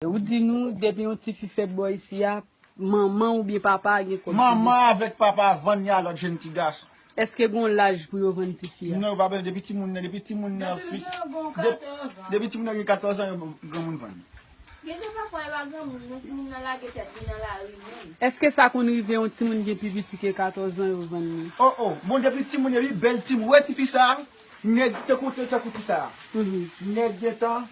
Ou di nou depi yon ti fi fèt bò isi a manman ou byen papa a gen kòb sou li. Manman avèk papa a vann li a lòt jenn ti gason. Eske gon laj pou yo vann ti fi a? Non yo pa bezwen depi ti moun nan depi ti moun nan fi depi ti moun nan gen 14 ans yo gran moun vann li. Gen de pa fwa e pa gran moun non ti moun nan lage tèt li nan lari menm. Eske sa konn rive yon ti moun gen pi piti ke 14 ans yo vann li? Oh oh bon depi ti moun epi bèl ti moun ou wè ti fi sa nèg tankou tankou ti sa nèg gentan.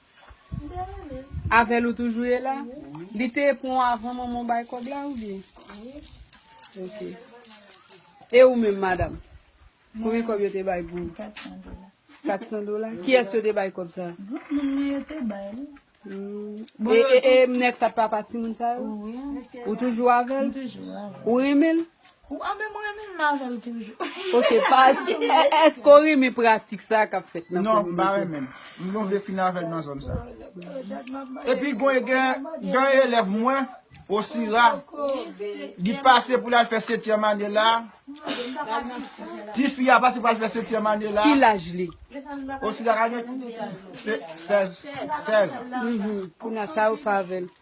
Avèl ou toujou ye la? Li te pran w avan manman w bay kòb la oubyen? Ok. E ou menm madam? Konbyen kòb yo te bay pou ou? 400 dola. 400 dola? Kiyès yo te bay kòb sa? Gwoup moun mwen yo te bay li. E nèg sa papa timoun sa yo? Wi. Ou toujou avèl? M toujou avèl. Ou renmen l? Ou a menm renmen m avèl toujou. Ok paz eske ou renmen pratik sa kap fèt nan kominote. Non m pa renmen. M gon vle fini avèl nan zòn sa. Epi gon gen yon elèv mwen Osira li pase pou lal fè setyèm ane la. Tifi a pase pou al fè setyèm ane la. Ki laj li? Osira ka gen 16 ans. Kounye a sa ou fè avèl?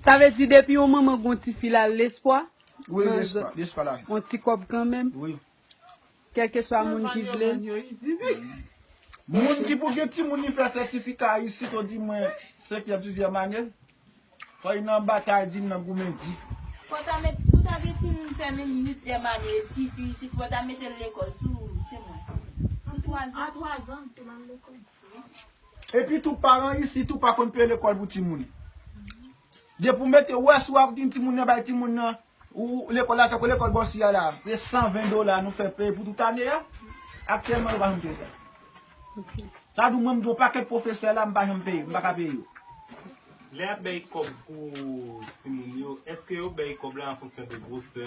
Sa vle di depi yon manman gen yon ti fi la lespwa yon ti kòb kanmenm kèlkeswa moun ki vle Moun ki pou gen timoun li fè sètifika isit odimwen senkyèm sizyèm ane fò li nan batay di li nan goumen di. Fò ta met pou ta gen timoun fè menm uityèm ane tifi isit fò ta metel lekòl sou temwen sou twazan. Epi tou paran isit ou pa konn peye lekòl pou timoun. Depi ou mete ou wè si wap di timoun nan bay timoun nan ou lekòl la tankou lekòl bò si a la se 120 dola nou fè peye pou tout ane a aktyèlman nou pa janm peye sa. Sa di mwen m gen yon pakèt pwofesè la m pa janm peye m paka peye yo. Lè yap bay kòb pou timoun yo eske yo bay kòb la an fonksyon de gwosè